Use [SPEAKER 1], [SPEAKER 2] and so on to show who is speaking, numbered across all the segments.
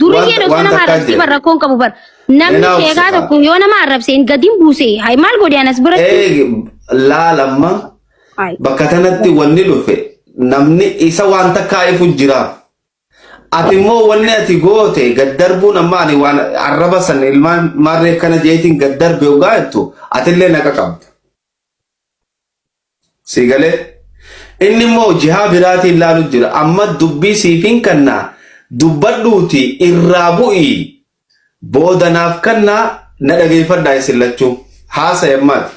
[SPEAKER 1] Duriyyeen osoo nama arrabsee bar rakkoon qabu bar. Namni sheekaa tokko yoo nama arrabse hin gadin buuse. Hay maal godhe anas biratti. Laalamma
[SPEAKER 2] bakka kanatti wanni dhufe namni isa waan takkaa ifu jiraaf. Ati immoo wanni ati goote gad darbuun amma ani waan arraba san ilmaan maarree kana jeetiin gad darbe ogaa jettu atillee naqa qabda. Sii galee? Inni immoo jihaa biraatiin laalu jira. Amma dubbii siifin kannaa dubbadhuuti irraa bu'ii booda naaf kannaa na dhageeffadhaa isin lachuu. Haasaya ammaati.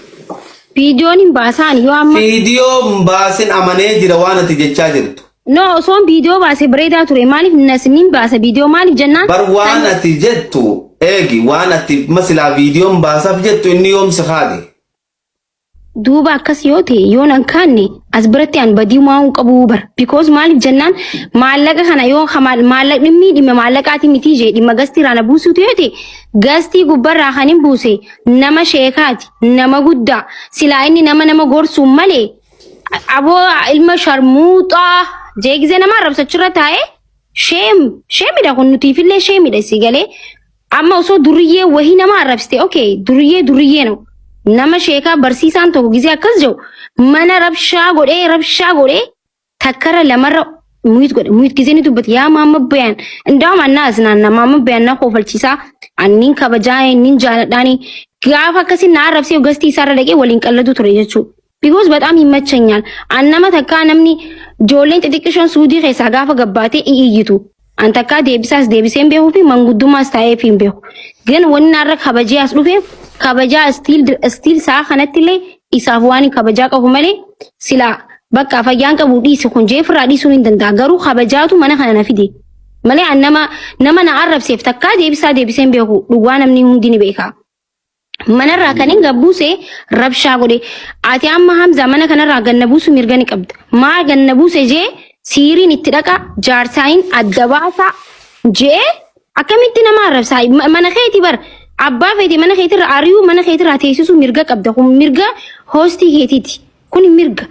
[SPEAKER 2] Viidiyoon
[SPEAKER 1] hin baasaan yoo amma. Viidiyoo hin baasin
[SPEAKER 2] amanee jira waan ati jechaa jirtu. No osoon viidiyoo
[SPEAKER 1] baase bareedaa ture maaliif nasimiin baasa viidiyoo maaliif jennaan. Bar waan ati
[SPEAKER 2] jettu eegi waan ati masilaa viidiyoon baasaaf jettu inni yoomsi haade.
[SPEAKER 1] Duuba akkas yoo ta'e yoon an kaanne as biratti an badii maa'uu qabu bar because maaliif jennaan maallaqa kana yoo maallaqni inni dhimma maallaqaati miti jee dhimma gastii irraa na buusuutu yoo ta'e gastii gubbarraa kan hin buuse nama sheekaati nama guddaa silaa inni nama nama gorsuu malee aboo ilma sharmuuxaa jeegizee nama arrabsachirra taa'ee sheem sheemidha kun nutiifillee sheemidha si galee Amma osoo durriyyee wahii nama arrabsite okay durriyyee durriyyee no nama sheekaa barsiisaan tokko gisee akkas jedhu mana rabshaa godhee rabshaa godhee takkarra lamarra muyit godhe muyit gisee ni dubbate yaa maamma bayaan indaa'um annaa asnaanna maamma bayaan na koofalchiisaa anniin kabajaa inniin jaaladhaanii gaafa akkasii na arrabsee gastii isaarra dhaqee waliin qalladuu ture jechuudha. because በጣም ይመቸኛል an nama takkaa namni joolleen xixiqqishoon suudii keessaa gaafa gabbaatee i iyyitu an takkaa deebisaas deebiseen beeku fi manguddummaas taa'eef hin beeku gan wanni har'a kabajee as dhufeef kabajaa stiil stiil sa'a kanatti illee isaaf waan hin kabajaa qabu malee silaa bakka fayyaan qabu dhiisi kun jeefirraa dhiisuu hin danda'a garuu kabajaatu mana kana na fide malee an nama nama na arrabseef takkaa deebisaa deebiseen beeku dhugaa namni hundi ni beeka Manarraa kan hin gabbuuse rabshaa godhe. Ati amma Hamza mana kanarraa ganna buusu mirga ni qabda. Maa ganna buuse jee siiriin itti dhaqa jaarsaayin adda baasa jee akkamitti nama arrabsaa Ma- mana keeti bar abbaa feeti mana keetirra ari'uu mana keetirraa teessisuu mirga qabda kun mirga hoostii keetiiti. Kuni mirga.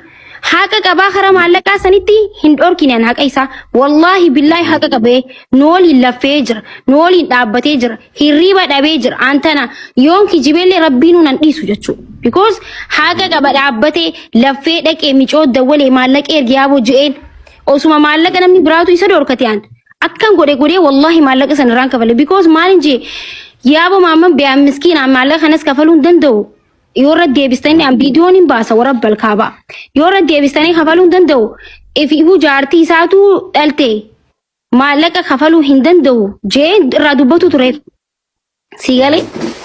[SPEAKER 1] Haqa qabaa karaa maallaqaa sanitti hin dhorkine an haqa isaa. Wallaahi billaahi haqa qabee nu waliin laffee jira. Nu waliin dhaabbatee jira. Hirriba dhabee jira. An tana yoon kijibeellee rabbiinuu nan dhiisu jechuudha. Because haqa qaba dhaabbatee laffee dhaqee micoo dawwalee maallaqa ergi yaaboo je'een. Osuma maallaqa namni biraatu isa dhorkate an. Akkan godhe godhee wallaahi maallaqa sana irraan kafale. Because maal hin jee yaaboo maamman biyaan miskiinaan maallaqa kanas kafaluu hin danda'u. yoo irra deebistanii an viidiyoon hin baasa warra balkaabaa yoo irra deebistanii kafaluu hin danda'u ifuu jaartii isaatu dhalte maallaqa kafaluu hin danda'u jee irraa dubbatu tureef si galee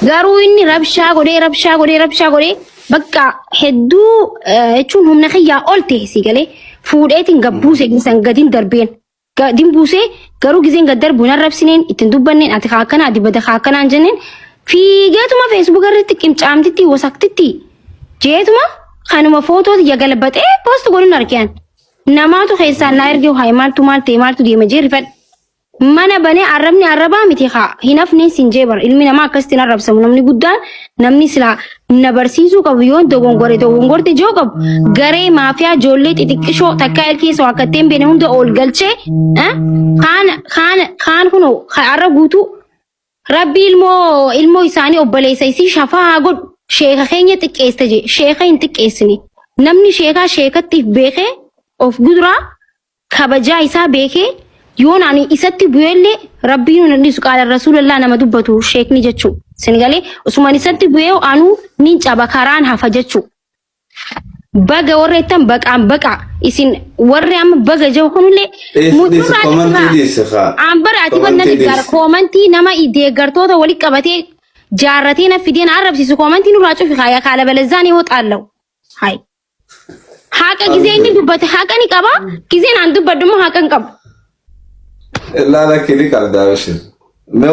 [SPEAKER 1] garuu inni rabshaa godhee rabshaa godhee rabshaa godhee bakka hedduu eh, jechuun humna kiyyaa ol ta'e si galee fuudheetiin gabbuuse san gadin darbeen Ga- din buusee garuu gizeen gad darbu hin arrabsineen ittiin dubbanneen ati kaa akkanaa dibata kaa akkanaa hin jenneen fiigeetuma feesbuuk irratti qimcaamtitti wasaktitti jeetuma kanuma footooti yagalabaxee poost godhin argean namaatu keessaan naa erge haa maaltu maal ta'e maaltu deema jee rifadhe mana banee arrabni arrabaa miti haa hin hafneen sin jee bara ilmi namaa akkasitti hin arrabsamu namni guddaan namni silaa na barsiisuu qabu yoon dogongore dogongorte joo qabu garee maafiyaa ijoollee xixiqqishoo takkaa ilkeessa waan katteen beene hunda ol galchee eh, kaan kaan kaan kun har'a guutuu rabbi ilmoo ilmoo isaanii obboleessa isii shafaa haa godhu sheeka keenya xiqqeessa jee sheeka hin xiqqeessine namni sheekaa sheekattiif beekee of guduraa kabajaa isaa beekee yoon ani isatti bu'eellee rabbiin hin dhiisu qaala rasuulallaa nama dubbatu sheekni jechuu sin galee osuman isatti bu'ee anuu nin caba karaan hafa jechuu baga warra ittan baqaan baqaa isin warri amma baga jau kunillee Dhiisi komantii dhiisi kaa. aan bara ati wanna Komantii deeggar dhiisi. koomantii nama deeggartoota walitti qabatee jaarratee na fidee na arrabsiisu koomantii nurraa cufi kaaya kaala balazzaanii hoo xaallawu. Hai. Haqa gizee inni dubbate haqa ni qaba. Gizeen aan dubbadhu immoo haqa hin
[SPEAKER 2] qabu.
[SPEAKER 1] Laala kini qabdaa bashir.